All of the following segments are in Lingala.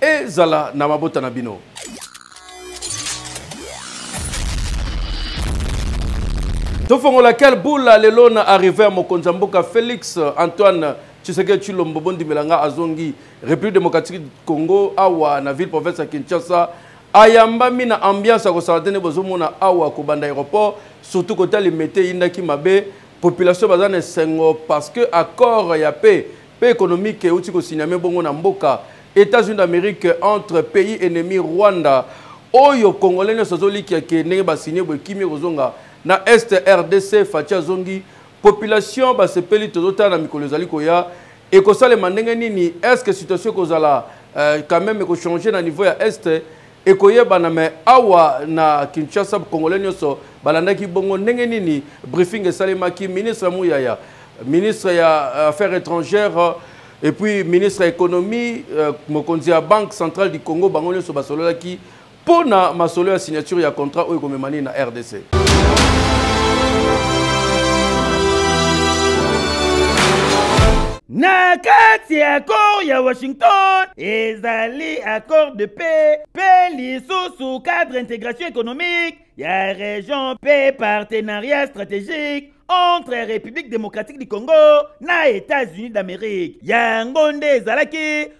Ezala na mabota na bino. tofongola kel bula lelo na arrive ya mokonzi ya mboka félix euh, antoine tshiseke tshilombo bondimela nga azongi république démocratique du congo awa na ville province ya kinshasa ayambami na ambiance ya kosala te nde bozomona awa kobanda aéroport surtout kota limete eyindaki mabe population baza na esengo parce que accord ya paix pe economique euti ko signame bongo na mboka Etats-Unis d'Amerique entre pays ennemi Rwanda oyo congolais nionso azolikia ke ndenge ba signe boye kimia ekozonga na est rdc faci azongi population basepeli tozotala na mikolo ezali koya ekosalema ndenge nini est ce que situation ekozala euh, quand même ekochange na niveau ya est ekoyebana me awa na kinshasa congolais nyonso balandaki bongo ndenge nini briefing esalemaki ministre muyaya ministre ya euh, affaires étrangères et puis ministre ya économie euh, mokonzi ya banque centrale du congo bango nyonso basololaki mpo na masolo ya signature ya contrat oyo ekomema nini na rdc Na kati ya accord ya Washington ezali accord de paix pe lisusu cadre integration économique ya region pe partenariat stratégique entre République démocratique du Congo na États-Unis d'Amérique. Yango nde ezalaki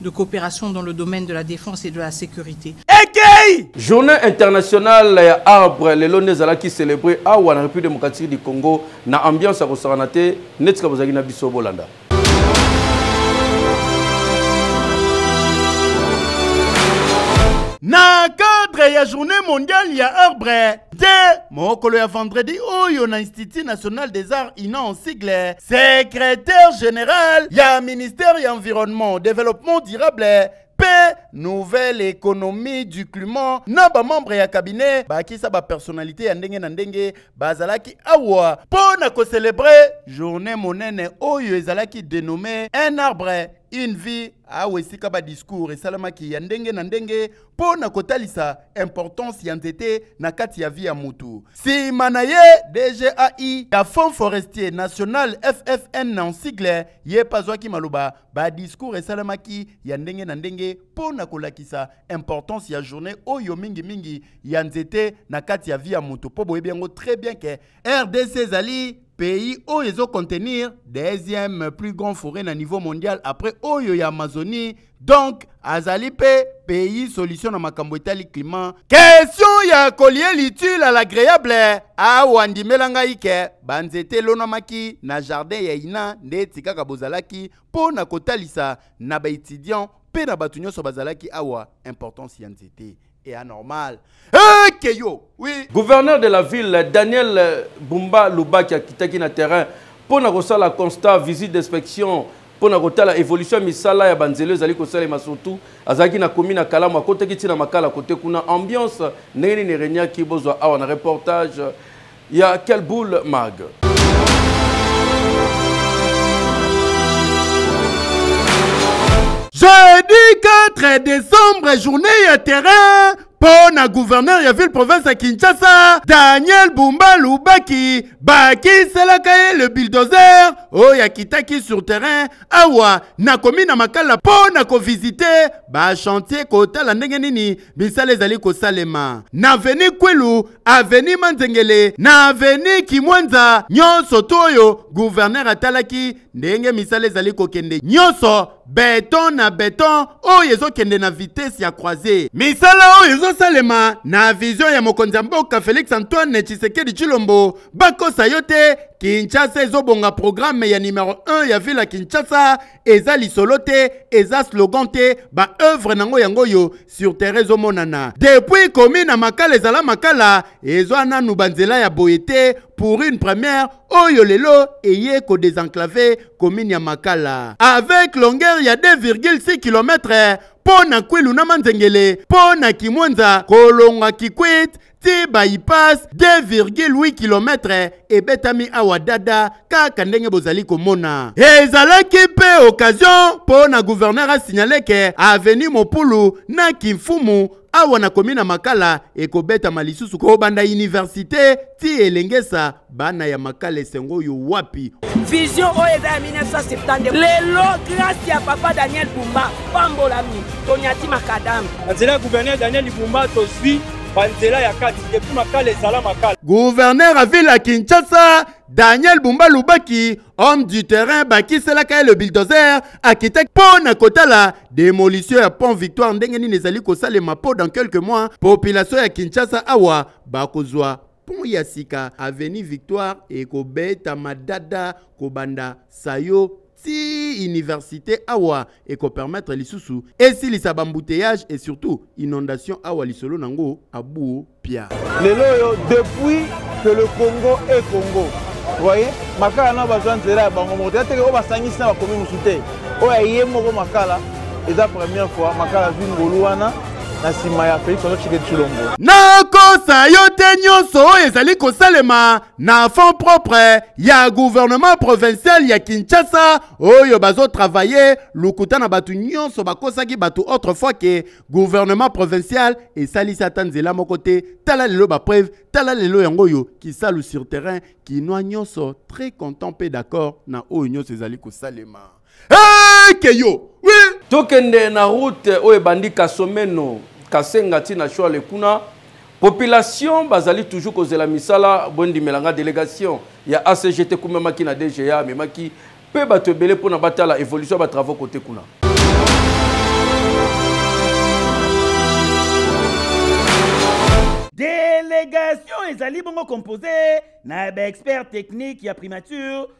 de coopération dans le domaine de la défense et de la sécurité. Ekei! Journée internationale ya arbre lelo nde ezalaki célébrer awa na République démocratique du Congo na ambiance ya kosakana te neti kaka bozalaki na biso bolanda. Na cadre ya journée mondiale ya arbre te mokolo ya vendredi oyo na institut national des arts inan sigle secrétaire général ya ministère ya environnement développement durable mpe nouvelle économie du climat na bamembre ya cabinet bakisa bapersonnalité ya ndenge na ndenge bazalaki awa mpo na kocelebre journée monene oyo ezalaki dénommé un arbre une vie awa esika badiscours esalamaki ya ndenge na ndenge mpo na kotalisa importance ya nzete na kati ya vi ya mutu. Sima na ye DGAI ya Fonds Forestier National FFN na sigle ye mpe azwaki maloba ba discours esalamaki ya ndenge na ndenge mpo na kolakisa importance ya journée oyo mingi mingi ya nzete na kati ya vi ya mutu mpo boyebi yango très bien ke rdc ezali pays oyo ezo contenir deuxième plus grand forêt na niveau mondial après oyo ya amazonie donc azali mpe pays solution na makambo etali climat question ya kolie litule à l'agréable awa ndimela ngai ke banzete elonamaki na jardin ya ina nde eti kaka bozalaki mpo na kotalisa na baetudiant mpe na bato nyonso bazalaki awa importance ya nzete et anormal hey, keyo oui gouverneur de la ville daniel bumba lubaki akitaki na terrain mpo na kosala constat visite d'inspection mpo na kotala évolution ya misala ya banzela ezali kosalema surtout azalaki na komi na kalamu akotaki ntina makala kote kuna ambiance ndenge nini eregnaki bozwa awa na reportage ya quel boule mag jeudi 4 décembre journée ya terrain mpo na gouverneur ya ville province ya kinshasa daniel bumba lubaki bakiselaka ye le bildozer oyo akitaki sur terrain awa nakomi na makala mpo na kovizite bachantier kotala ndenge nini misala ezali kosalema na veni kwelu aveni manzengele na aveni kimwanza nyonso to oyo guvernere atalaki ndenge misala ezali kokende nyonso beton na beton oyo ezokende na vitese ya croise misala oyo ezosalema na vizio ya mokonzi ya mboka felix antoine tshisekedi tshilombo bakosa yo te kinshasa ezobonga programe ya numero 1 ya ville ya kinshasa eza lisolo te eza slogan te baoeuvre nango yango oyo sur terrain ezomonana depuis komi na makala ezala makala ezwa nanu banzela ya boye te pour une première oyo lelo eye kodesenclave commune ya makala avec longueur ya 2,6 km mpo na kwilu na manzengele mpo na kimwenza kolonga kikwit ti bypass 2,8 km ebetami awa dada kaka ndenge bozali komona ezalaki mpe occasion mpo na gouverneur asignale ke avenue mopulu na kimfumu awa na komi na makala ekobetama lisusu kobanda universite ti elengesa bana ya makala esengo oyo wapi vision oyo eza ya 1972 lelo grâce ya papa daniel bumba pambolami tonyati makadame na nzela ya gouverneur daniel bumba tozwi banzela ya kati depuis makala ezala makala gouverneur ya ville ya kinshasa daniel bumba lubaki homme du terrain bakiselaka ye le bildozer akitaki mpo na kotala demolition ya pont victoire ndenge nini ezali kosalema mpo dans quelques mois population ya kinshasa awa bakozwa pont ya sika avenue victoire ekobetama dada kobanda sayo ti université awa ekopermettre lisusu esilisa bambouteillage et surtout inondation awa lisolo nango abuo pia lelo oyo depuis que le congo est congo voye makala nao bazwa nzela ya bango moko te ateke oyo basangisi na bakomi mosusu te oyo aye moko makala eza première fois makala zwi ngolu wana na nsima ya Felix Antoine Tshisekedi Tshilombo. Nakosa yo te nyonso oyo ezali kosalema na fond propre ya gouvernement provincial ya Kinshasa oyo bazotravaille lokuta na bato nyonso bakosaki bato autrefois ke gouvernement provincial esalisi ata nzela moko te tala lelo bapreuve tala lelo yango oyo kisalu sur terrain kinois nyonso très content mpe d'accord na oyo nyonso ezali kosalema eke yo oui. tokende na route oyo ebandi kasomeno kasenga ntina shwale kuna population bazali toujours kozela misala bondimela nga délégation ya acgt ekumamaki na dga amemaki mpe bato ebele mpona batala évolution ya batravaux kote kuna délégation ezali bongo compose na baexpert technique ya primature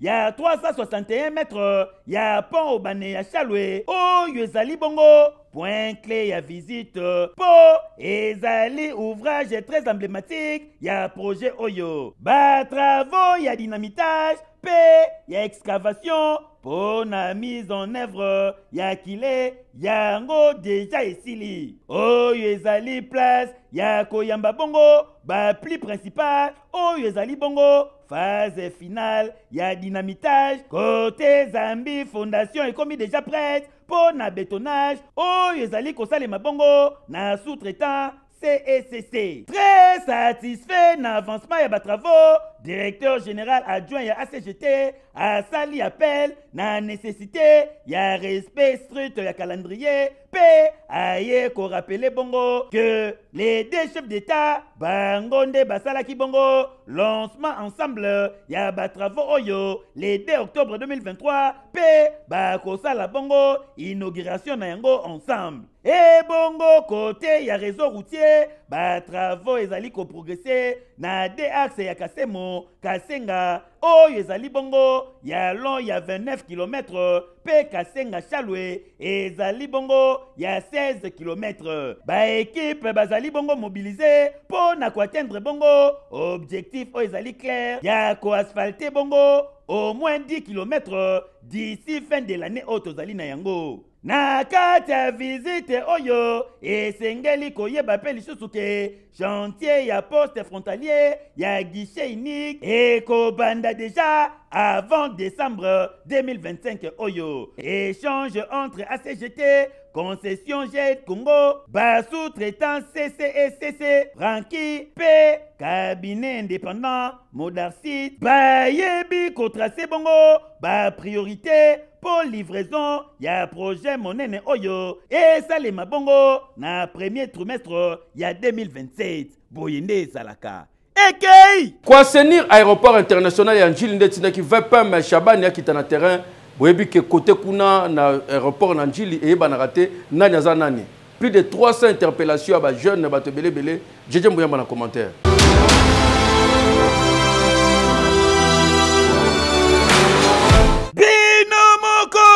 ya 361 mètre ya pont obane ya chalwe oyo ezali bongo point clé ya visite mpo ezali ouvrage très emblématique ya projet oyo batravaux ya dynamitage mpe ya excavation mpo na mise en œuvre ya kile yango deja esili oyo ezali place ya koyamba bongo bapli principal oyo ezali bongo phase finale ya dynamitage kote zambi fondation ekomi deja prête mpo na betonage oyo ezali kosalema bongo na sous-traitant CECC. E Très satisfait na avancement ya batravaux, directeur général adjoint ya ACGT asali appel na nécessité ya respect strict ya calendrier Pe aye ko rappeler bongo que les deux chefs d'État bango nde basalaki bongo lancement ensemble ya ba travaux oyo le 2 octobre 2023 pe bakosala bongo inauguration na yango ensemble ebongo kote ya réseau routier batravaux ezali koprogrese na de axe ya kasemo kasenga oyo ezali bongo ya long ya 29 km mpe kasenga shalwe ezali bongo ya 16 kilometre baekipe bazali bongo mobilize mpo na koatteindre bongo objectif oyo ezali claire ya koasphalte bongo au moins 10 kilometre d'ici fin de l'année oyo tozali na yango na kati ya vizite oyo esengeli koyeba mpe lisusu ke Chantier ya poste frontalier ya guichet unique ekobanda deja avant décembre 2025 oyo échange entre acgt concession jet congo basous-traitant ccecc franki mpe cabinet indépendant Modarcite bayebi kotrace bongo ba priorité mpo livraison ya projet monene oyo esalema bongo na premier trimestre ya 2027 boye nde ezalaka ekei koasenir aéroport international ya njili nde etindaki vpm shabani akita na terrain boyebi ke kote kuna na aéroport na njili eyebanaka te nani aza nani Plus de 300 interpellations à ba jeunes, à ba tebele bele. Djedje Mbouyamba na commentaire.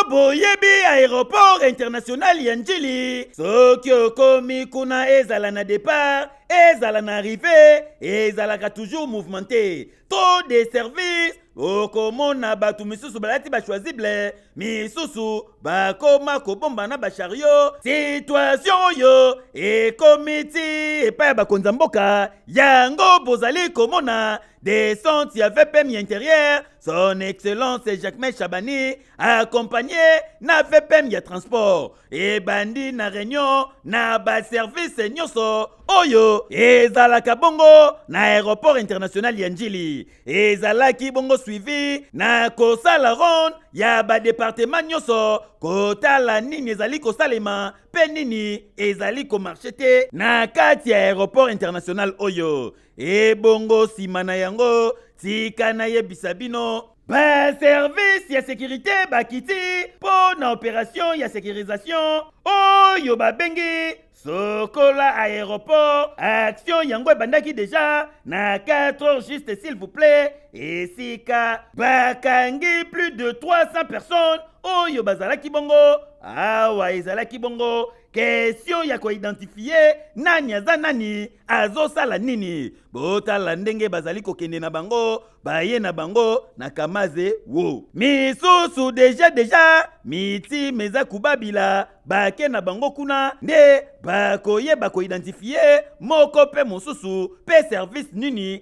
boyebi aéroport international ya njili soki okomi kuna ezala na départ ezala na arrive ezalaka toujours mouvementé trop de service okomona bato misusu balati bachoisible misusu bakoma kobomba na bashario situatio oyo ekomi ti epai ya bakonzi ya mboka yango bozali komona descente ya vpm ya interieur son excellence jacquemain chabani accompagné na vpm ya transport ebandi na réunion na baservice nyonso oyo ezalaka bongo na aéroport international ya njili ezalaki bongo suivi na kosala ronde ya badepartema nyonso kotala nini ezali kosalema mpe nini ezali komarshe te na kati ya aéroport international oyo ebongo nsima na yango tika nayebisa bino Ba service ya securite bakiti mpo na operation ya securisation oyo babengi sokola aéroport action yango ebandaki deja na 4 heures juste s'il vous plaît esika bakangi plus de 300 personnes oyo bazalaki bongo awa ezalaki bongo kestion ya koidentifie nani aza nani azosala nini botala ndenge bazali kokende na bango baye na bango na kamaze wo misusu deja deja mitima eza kobabila bake na bango kuna nde bakoyeba koidentifie moko mpe mosusu mpe service nini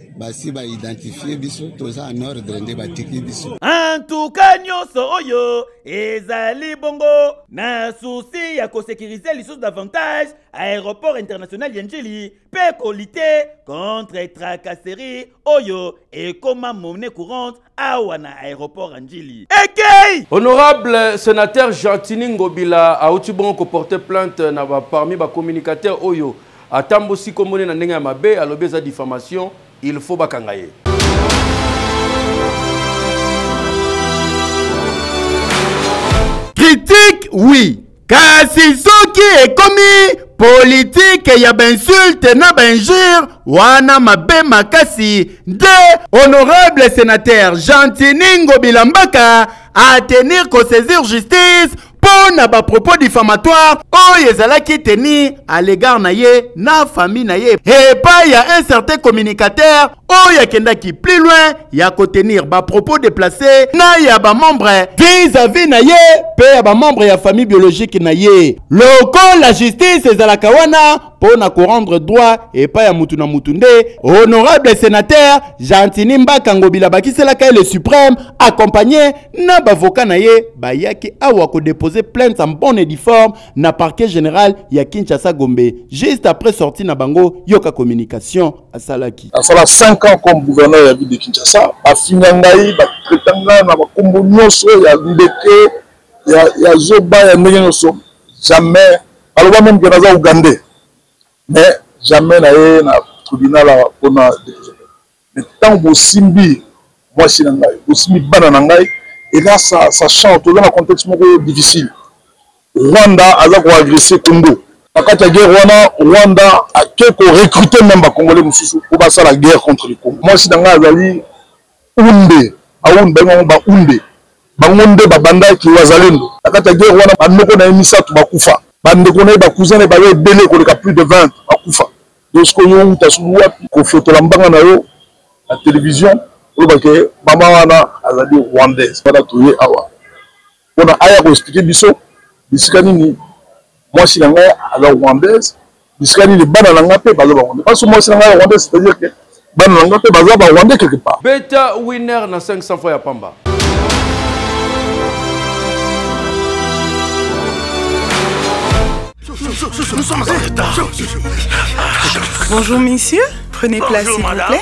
basi ba identifie biso toza en ordre nde batiki biso antuka nyonso oyo ezali bongo na susi ya kosekirize lisusu davantage aéroport international ya njili mpe kolite contre tracasserie oyo ekoma monnaie courante awa na aéroport ya njili ekei honorable sénateur gentini ngobila auti bongo koporte plainte na ba, parmi bacommunicateur oyo atambosi kombone na ndenge ya mabe alobi eza diffamation il faut bakanga ye critique oui kasi soki ekomi politike ya bainsulte na bainjure wana mabe makasi nde honorable senateur gentini ngobila mbaka atenir kosaisir justice mpo na bapropos diffamatoire oyo ezalaki teni à l'égard na ye na famille na ye epai ya un certain communicateur oyo akendaki plus loin ya kotenir bapropos déplace na ya bamembre vis-à-vis na ye mpe ya bamembre ya famille biologique na ye lokola justice ezalaka wana mpo na korendre droit epai ya motu na motu nde honorable sénateur gentini mbaka ngobila abakiselaka ye le suprême accompagné na bavoka na ye bayaki awa kodepose plainte en bonne et due forme na parquet général ya kinshasa gombe juste après sortie na bango yoka communication asalaki asala 5 ans comme gouverneur ya ville de kinshasa bafinga ngai batraita ngai na bakombo nyonso ya ndeke ya zoba ya ndenge nyonso jamais baloba meme ke naza ougandais mais jamais na ye na tribunal awa mpona mais ntango bosimbi mwasi na ngai bosimbi bana na ngai eza sa change toza na contexte moko difficile Rwanda aza ko agresser Congo. Na kati ya guerre wana Rwanda ake ko recruter meme ba congolais mosusu mpo basala guerre contre le Congo. Mwasi na ngai azali Hunde, ba Hunde babengi bango ba Hunde, bango nde babandaki Wazalendo. Na kati ya guerre wana ba noko na ye misato bakufa, ba ndeko na ye, ba cousins na ye baye ebele koleka plus de 20 bakufa. Donc sikoyo yo owuta soki wapi kofotola mbanga na yo na television oloba ke mama wana azali Rwandaise? Wana toye awa. pona aya ko expliquer biso bisika nini mwasi na ngai aza rwandaise bisika nini bana na ngai mpe baza barwandais parce que mwasi na ngai rwandais c'est à dire que bana na ngai mpe baza barwandais quelque part beta winner na 500 fois ya pamba Bonjour messieurs, prenez place s'il vous plaît.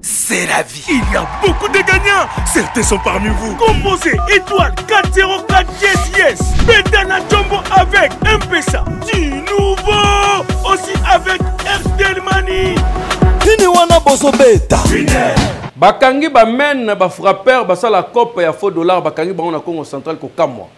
c'est la vie. Il y a beaucoup de gagnants. Certains sont parmi vous. Composez étoile 404 yes yes. Betana Jumbo avec MPSA. Du nouveau. Aussi avec Airtel Money. Nini wana bozo beta. Bakangi ba men na ba frappeur basala cope ya faux dollar bakangi bango na Congo central kokamwa.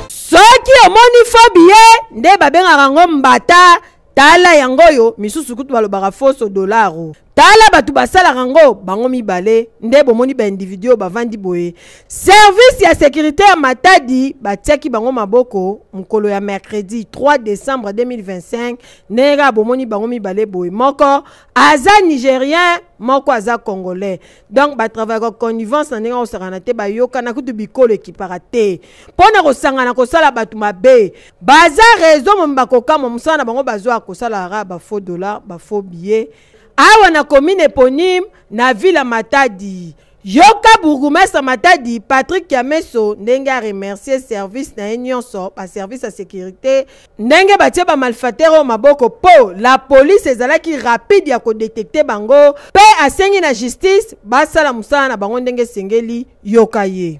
soki omoni fobie nde babengaka yango mbata tala yango oyo misusu kutu balobaka foso dolaro tala bato basalaka yango bango mibale nde bomoni baindividu oyo bavandi boye service ya sécurité ya matadi batiaki bango maboko mokolo ya mercredi 3 décembre 2025 ndenge kaka bomoni bango mibale boye moko aza nigérien moko aza congolais donc batravayaka connivence na ndenge akosakana te bayokana kutu bikolo ekipaka te mpo na kosangana kosala bato mabe baza rezo momi bakokamwa mosala na bango bazwaka kosalaka bafaux dollar bafaux billet awa na commune eponyme na ville matadi yoka bourgoumestre matadi patrick kiameso ndenge aremercie service na ye nyonso baservice ya sécurité ndenge batie bamalfatere oyo maboko mpo la polise ezalaki rapide ya kodetekte bango mpe asengi na justice basala mosala na bango ndenge esengeli yoka ye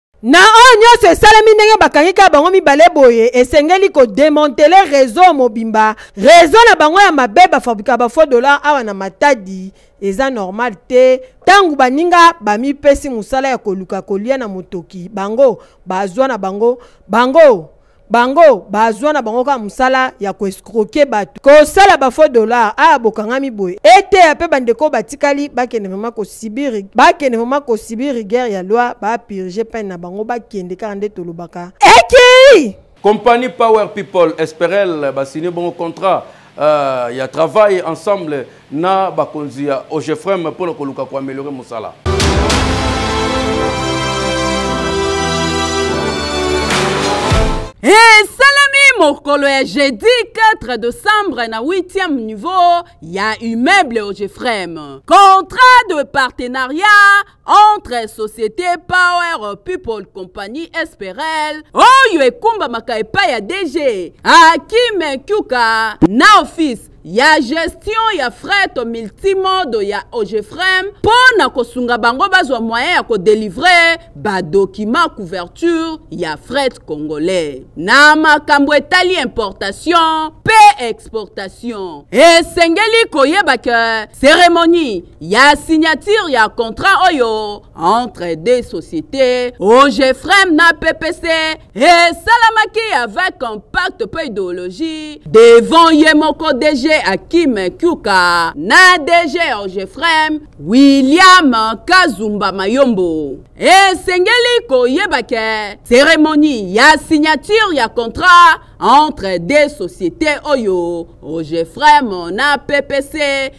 Na oyo nyonso esalemi ndenge bakangi kaka bango mibale boye esengeli ko demanteler reseau mobimba reseau na bango ya mabe bafabrika ba faux dollars awa na matadi eza normal te ntango baninga bamipesi mosala ya koluka kolia na motoki bango bazwa na bango bango bango bazwa na bango kaka mosala ya koescroke bato kosala bafo dollar aya bokangami boye eteya mpe bandeko batikali bakende vraimen kosibiri bakende vraimen kosibiri guerre ya loi bapurge pene na bango bakende kaka nde tolobaka ekei compagnie power people esperel basini bongo contrat Uh, ya travail ensemble na bakonzi ya ogefrem mpo na koluka koameliore mosala esalami hey, mokolo ya jeudi 4 decembre na 8e niveau ya immeuble ogefrem contrat de partenariat entre société power people compagnie esperel oyo ekumbamaka epai ya dg akime kyuka na office ya gestion ya fret multimodo ya ogefrem mpo na kosunga bango bazwa moyen ya kodelivre badokima couverture ya fret congolais na makambo etali importation mpe exportation esengeli koyeba ke ceremonie ya signature ya contrat oyo entre deux sociétés ogefrem na ppc esalamaki avec compact mpe idéologie devant ye moko dg akim kyuka na dg ogefrem william kazumba mayombo esengeli koyeba ke cérémonie ya signature ya contrat entre deux sociétés oyo ogefrem na ppc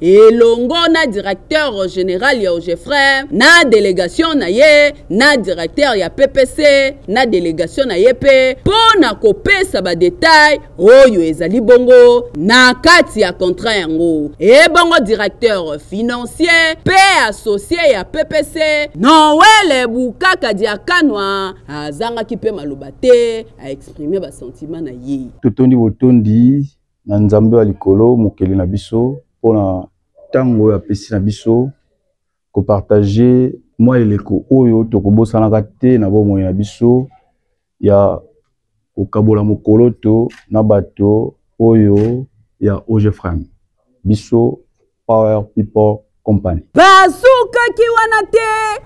elongo na directeur general ya ogefrin na delegation na ye na directeur ya ppc na delegation na ye mpe mpo na kopesa badetail oyo ezali bongo na kati ya contrat yango ebongo directeur financier mpe associe ya ppc noele bukaka diakanwa azangaki mpe maloba te aexprime basentiment na ye totondi botondi na Nzambe wa likolo, Mokeli na biso, mpo na ntango oyo apesi na biso kopartage mwa eleko oyo tokobosanaka te na bomoi na biso ya kokabola mokoloto na bato oyo ya Ogefrem biso Power People Company. Basukaki wana te.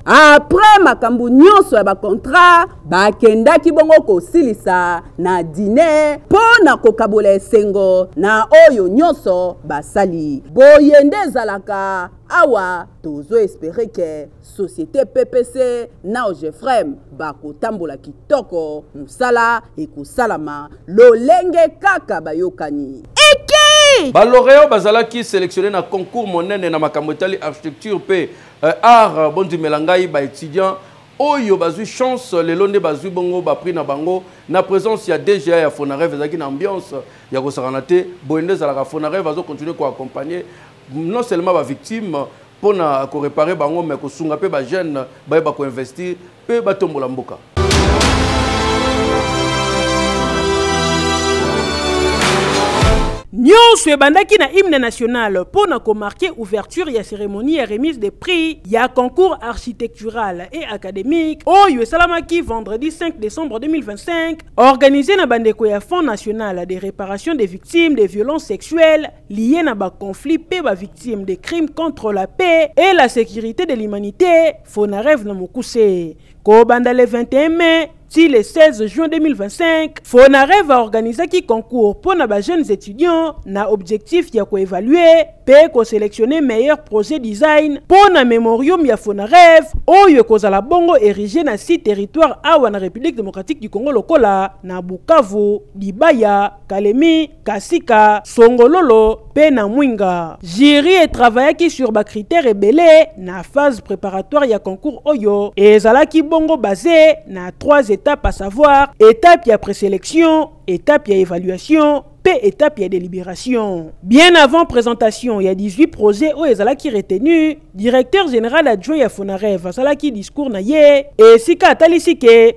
Après makambo nyonso ya bakontrat, bakendaki bongo kosilisa na dine mpo na kokabola esengo na oyo nyonso basali. Boye nde ezalaka awa tozo espere ke societe ppc na ogefrem bakotambola kitoko mosala ekosalama lolenge kaka bayokani eke baloreo bazalaki selectionne na concours monene na makambo etali architecture mpe euh, art euh, bondimela ngai baétudiant oyo bazwi chance lelo nde bazwi bongo baprix na bango na présence ya dga ya fonareve ezalaki na ambiance ya kosakana te boye nde ezalaka fonareve azocontinue koaccompagne non seulement ba victime pona ko réparer bango mais ko sunga pe ba jeunes ba ba ko investir pe ba tombola mboka nyonso ebandaki na hymne national mpo na komarke ouverture ya cérémonie ya remise des prix ya concours architectural et académique oyo esalamaki vendredi 5 décembre 2025 organisé na bandeko ya fonds national de réparation des victimes des violences sexuelles liye na ba conflits pe ba victimes de crimes contre la paix et la sécurité de l'humanité Fonareve na mokuse kobanda le 21 mai ti le 16 juin 2025 Fonareve aorganisaki concours mpo na ba jeunes étudiants na objectif ya koevalue mpe koselectionne meilleur projet design mpo na memorium ya Fonareve oyo ekozala bongo érige na si territoire awa na République démocratique du Congo lokola na Bukavu Libaya Kalemi, Kasika, Songololo pe na Mwinga. Jury e travaillaki sur ba critères ebele na phase préparatoire ya concours oyo ezalaki bongo base na trois etapes à savoir étape ya présélection, étape ya évaluation pe étape ya délibération. Bien avant présentation ya 18 projets oyo ezalaki retenu, directeur général adjoint ya Fonarev asalaki discours na ye esika atalisi ke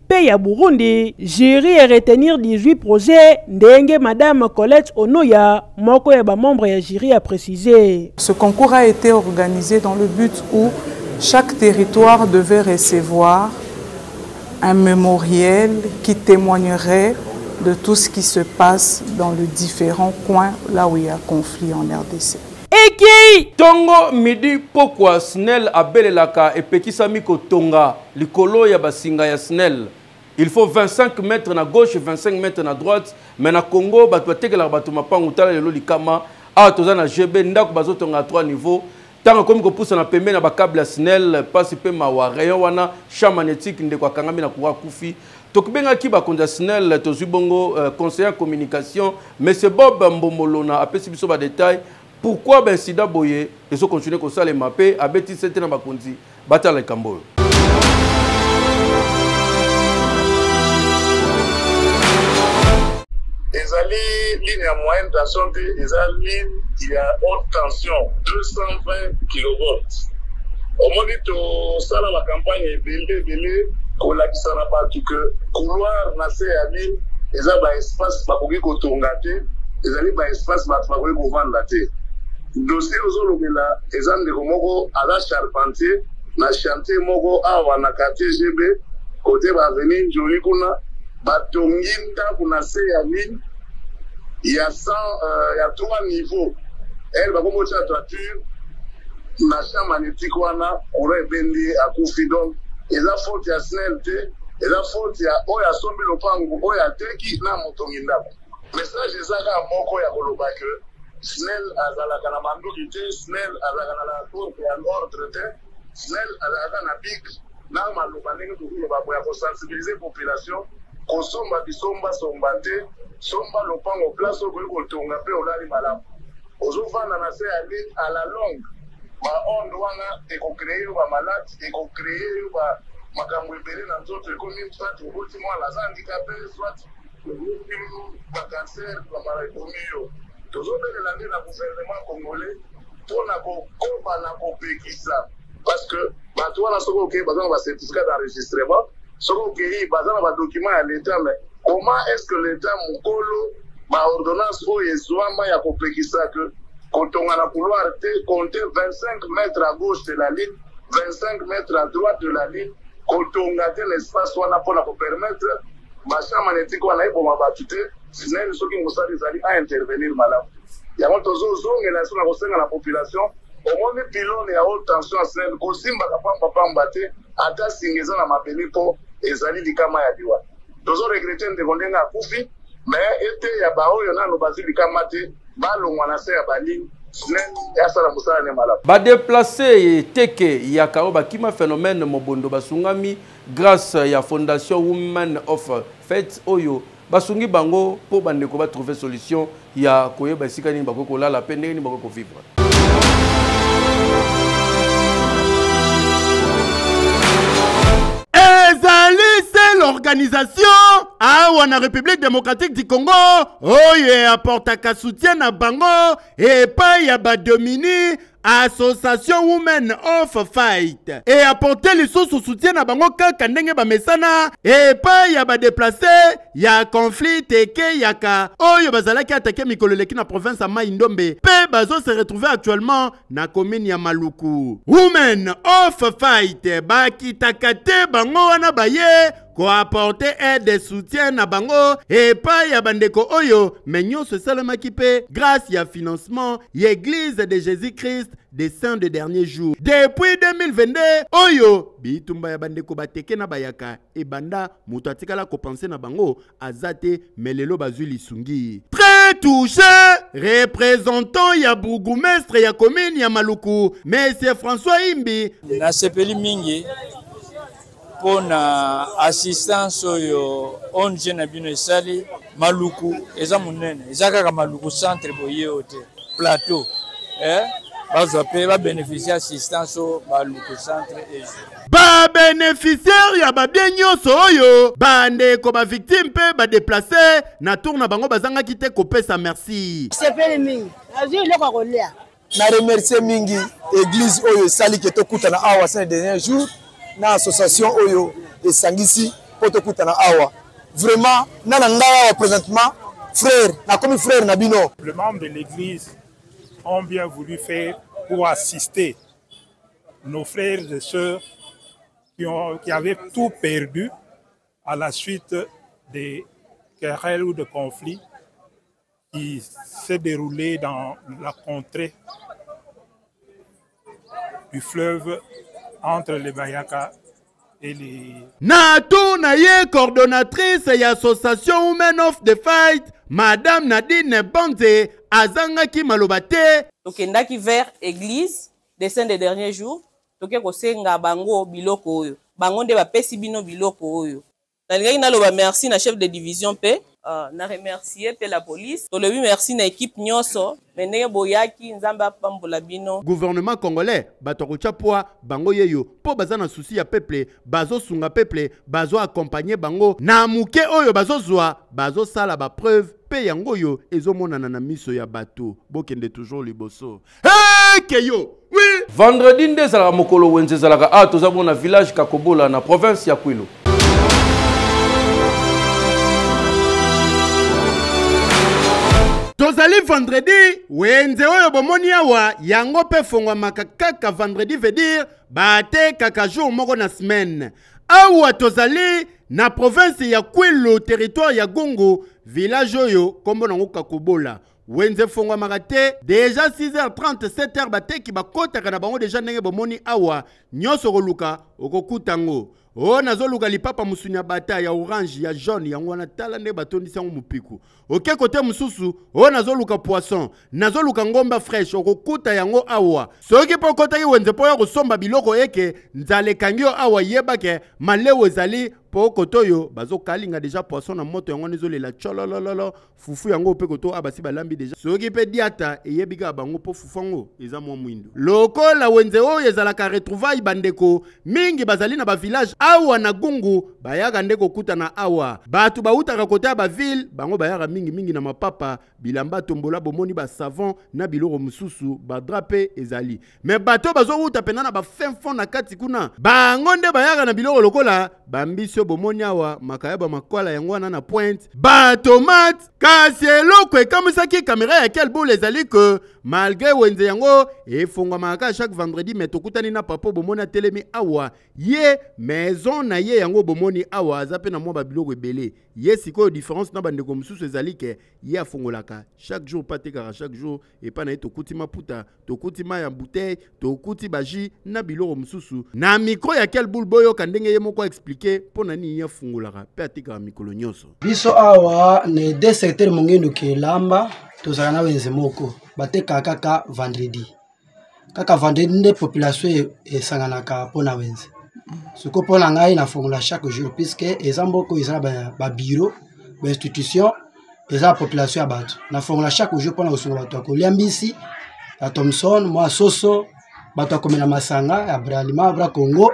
pe ya Burundi, jury e retenir 18 projets ndenge madame Colette Onoya, moko ya ba membres ya jury a preciser. Ce concours a ete organise dans le but où chaque territoire devait recevoir un memoriel qui temoignerait de tout ce qui se passe dans les différents coins là où il y a conflit en RDC. Ekei! Tongo midi pokwa, SNEL abelelaka epekisami kotonga. likolo ya basinga ya snel il faut 25 mètres na gauche 25 mètres na droite mais na congo bato batekelaka bato mapangu tala lelo likama awa toza na gb ndako bazotonga ya 3 niveau ntango ekomi kopusana pembeni na bakable ya snel mpasi mpe mawa rayon wana champ magnétique ndeko akangami na coura akufi tokibengaki bakonzi ya snel tozwi bongo euh, conseiller ya communication monsieur bob mbombolona apesi biso badetail Pourquoi ba incident boye ezo continuer kosalema pe abeti sete na bakonzi batala likambo oyo. ezali ligne ya moyenne tension te eza ligne ya haute tension 220 kilovolt omoni tosala bacampagne ebele ebele kolakisa na bato ke couloir na se ya ligne eza baespace bakoki kotonga te ezali ba espace bato bakoki kovanda te dossier ozolobela eza ndeko moko aza charpentier na chantier moko awa na quartier gb kote ba avenue njoli kuna batongi ndako na se ya mine ya 100 euh, ya 3 niveau ele bakomi otya toiture na champ magnétique wana courant ebendi akufi donc eza faute ya snel te eza faute ya oyo asombi lopango oyo ateki na motongi ndako message eza kaka moko ya koloba ke snel azalaka na manduki te snel azalaka na lacourte ya ordre te snel azalaka na big na maloba ndenge tokoloba boya kosensibilize population kosomba bisomba somba te somba lopango place okoki kotonga mpe olali malamu ozofanda na se ya ligne à la longue baonde wana ekocreye yo bamalade ekocreye yo makambo ebele na nzoto ekomi soit oboti mwana aza handikape soit bakanser bamala ekomi yo tozobelela nde na gouvernement congolais mpo na kokoba na kopekisa parce que bato wana soki okei baza na bacertificat d'enregistrement soki okei baza na badocument ya l'état mais comment est ce que l'état mokolo baordonnance oyo ezwama ya kopekisa ke kotonga na couloir te compte 25 mètre à gauche de la ligne 25 mètre à droite de la ligne kotonga te na espace wana mpo na kopermettre Bachar magnétique wana eboma bato te sinene soki mosala ezali a intervenir malamu yango tozozongela so na kosenga na population omoni pilone ya haute tension ya sinene kosimbaka pambapamba te ata singa eza na mabele mpo ezali likama ya liwa tozoregrete ndeko ndenge akufi me eteya baoyo nano bazwi likama te balongwa na se ya baline badeplace ye teke ya karo bakima phénomène mobondo basungami Grâce ya Fondation Women of Faith oyo basungi bango mpo bandeko ba trouver solution ya koyeba esika nini bakoki kolala mpe ndenge nini bakoki kovivre. organisation awa na république démocratique du congo oyo oh apportaka soutien na bango epai ya badomini association women of fight eaporte lisusu soutien na bango kaka ndenge bamesana epai ya badeplace ya conflit tekeyaka oyo bazalaki atake mikolo eleki na province ya mai ndombe mpe bazo se retrouve actuellement na komini ya maluku women of fight bakitaka te bango wana baye koaporte aide soutien na bango epai ya bandeko oyo me nyonso esalemaki mpe grâce ya financement ya eglise de jésus christ des saints de dernier jour depuis 2022 oyo bitumba ya bandeko bateke na bayaka ebanda moto atikala kopense na bango aza te me lelo bazwi lisungi très touché représentant ya bourgoumestre ya commune ya maluku monsieur françois imbi nasepeli mingi mpo na assistance oyo ong na bino esali maluku eza monene eza kaka maluku centre boye oyo te plateau eh? bazwa mpe babeneficie assistance oyo maluku centre ezwi babeneficiaire ya babie nyonso oyo bandeko bavictime mpe badeplace na tour na bango bazangaki te kopesa merci sepeli mingi nazwi eloko ya kolia na remercie mingi eglise oyo esali ke tokutana awa saint dernier jour na association oyo esangisi mpo tokutana awa vraiment na na ngai awa présentement frère nakomi frère na bino le membre de l'église ont bien voulu faire pour assister nos frères et sœurs qui, ont, qui avaient tout perdu à la suite des querelles ou de conflits qui s'est déroulé dans la contrée du fleuve entre les Bayaka et les... Na tour na ye coordonnatrice ya association Women of the Fight, Madame Nadine Banze azangaki maloba te. Tokendaki vers église des saints des derniers jours, toke kosenga bango biloko oyo. Bango nde bapesi bino biloko oyo. Nalingaki naloba merci na chef de division mpe. Uh, na remercier mpe la police. Tolobi merci na equipe nyonso me ndenge boyaki, Nzambe apambola bino. Gouvernement congolais bato ya kotya poa bango yeyo mpo baza na souci ya peuple, bazosunga peuple, bazo accompagne bango na moke oyo bazozwa, bazosala ba preuve mpe yango oyo ezomonana na miso ya bato. Bokende toujours liboso. Hey, keyo oui. vendredi nde ezalaka mokolo wenze ezalaka awa ah, toza bongo na village kakobola na province ya kwilu tozali vendredi wenze oyo bomoni awa yango mpe efongwamaka kaka vendredi veut dire batekaka jour moko na semaine awa tozali na province ya kwilu territoire ya gungu village oyo nkombo nango kakobola wenze efonguamaka te deja 6h30 7h bateki bakotaka na bango deja ndenge bomoni awa nyonso okoluka okokuta yango o oh, nazoluka lipapa mosuni ya bata ya orange ya jaune yango wana tala nde batondisi yango mopiku oke kote mosusu o oh, nazoluka poisson nazoluka ngomba fraîche okokuta yango awa soki mpo okotaki wenze mpo ya kosomba biloko eke nzala ekangi yo awa yebake maleu ezali mpo kote oyo bazokalinga deja poisson na moto yango wana ezolela cololololo fufu yango mpe koto a ah, basi balambi deja soki mpe diata eyebi kaka bango mpo fufu yango eza mwa mwindo lokola wenze oyo ezalaka retrouvaille bandeko mingi bazali na bavillage awa na gungu bayaka nde kokutana awa bato bautaka kota ya bavile bango bayaka mingimingi na mapapa bilamba tombola bomoni basavon na biloko mosusu badra mpe ezali me bato oyo bazowuta mpenza na bafin fond na kati kuna bango nde bayaka na biloko lokola bambisi oyo bomoni awa makayaba makwala yango wana na pointe batomate kasi eloko ekamwisaki kamera ya kelbul ezali ke malgre wenze yango efongwamaka kaka chaque vendredi me tokutani na papa bomoni atelemi awa ye maison na ye yango bomoni awa aza mpe na mwa babiloko ebele ye sikoyo différence na bandeko mosusu ezali ke ye afongolaka chaque jour mpe atekaka chaque jour epai na ye tokuti maputa tokuti mai ya bouteille tokuti baji na biloko mosusu na mikro ya kelbul boyoka ndenge ye moko aexplike mpo na nini ye afungolaka mpe atikaka mikolo nyonso biso awa na ede secteur mongendu kelamba tozalaka na wenze moko batekaka kaka vendredi kaka vendredi nde population e, esanganaka mpo na wenze sikoyo mpo na ngai nafongola chaque jour puisque eza mboka oyo eza na babiro bainstitution eza na population ya bato nafongola chaque jour mpo na kosunga bato ya kolia mbisi ya thomson mwa soso bato ya komela masanga ya bralima bra congo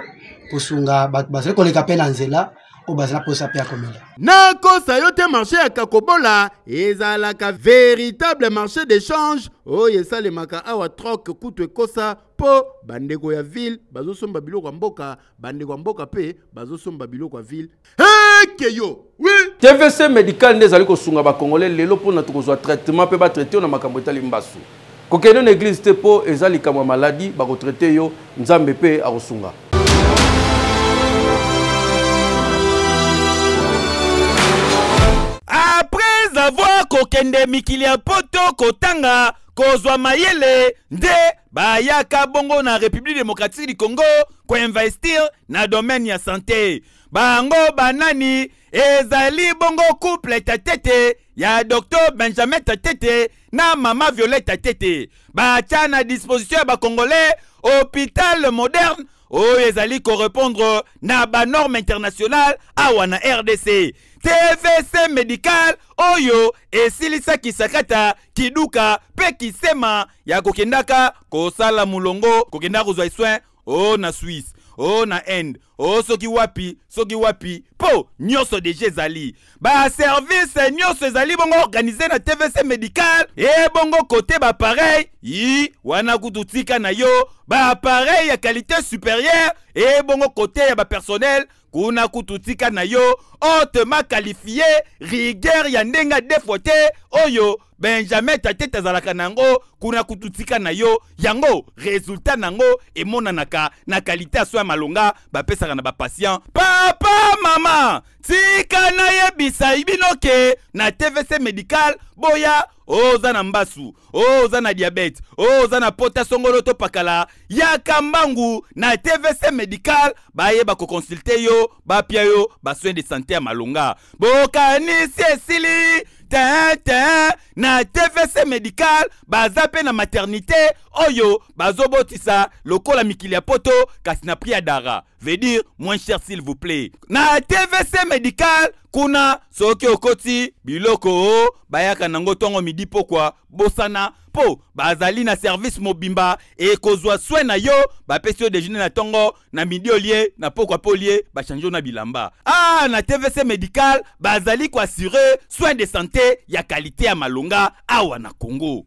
kosunga bato bazali koleka mpe na nzela oyo bazala mposa mpe ya komela nakosa yo te marché ya kakobola ezalaka véritable marché d'échange oyo esalemaka awa troke kutu ekosa mpo bandeko ya ville bazosomba biloko ya mboka bandeko ya mboka mpe bazosomba biloko ya ville eke yo oui. tvc medical nde ezali kosunga bakongole lelo mpona tokozwa traitement mpe batraite yo na makambo etali mbasu kokende na eglise te mpo eza likambo ya maladi bakotraite yo nzambe mpe akosunga apres avoir kokende mikili ya poto kotanga kozwa mayele nde bayaka bongo na république démocratique du congo koinvestir na domaine ya sante bango banani ezali bongo couple tatete ya docteur benjamin tatete na mama violeta tete batya na disposition ya bacongolais hôpital moderne oyo ezali korepondre na banorme internationale awa na rdc tvc medical oyo esilisaki sakata kiduka mpe kisema ya kokendaka kosala molongo kokendaka kozwa soin o na swisse o na inde o soki wapi soki wapi mpo nyonso deja ezali baservice nyonso ezali bongo organise na tvc medical ebongo kote bapareil i wana kutu tika na yo bapareil ya qualité supérieure ebongo kote ya bapersonnel kuna kutu tika na yo ote makalifie rigueur ya ndenge defo te oyo benjamin tatete azalaka na yango kuna kutu tika na yo yango resultat na yango emonanaka na kalite ya so ya malonga bapesaka na bapatient papa mama tika nayebisa bino ke na tvc medical boya oh, oza na mbasu oh, oza na diabete oh, oza na pota songolo to pakala yaka mbangu na tvc medical bayeba koconsulte yo bapia yo basoin de sante ya malonga bokanisi esili te te na tvc medical baza mpe na maternité oyo bazobotisa lokola mikili ya poto kasi na prix ya dara veut dire moins cher s'il vous plaît na tvc medical kuna soki okoti biloko o bayaka nango ntongo midi pokwa bosana mpo bazali na service mobimba ekozwa swe na yo bapesi yo dejeuner na ntongo na midi olie na pokwa mpe olie bachange yo na bilamba ah na tvc medical bazali koassure soin de santé ya kalite ya malonga awa na congo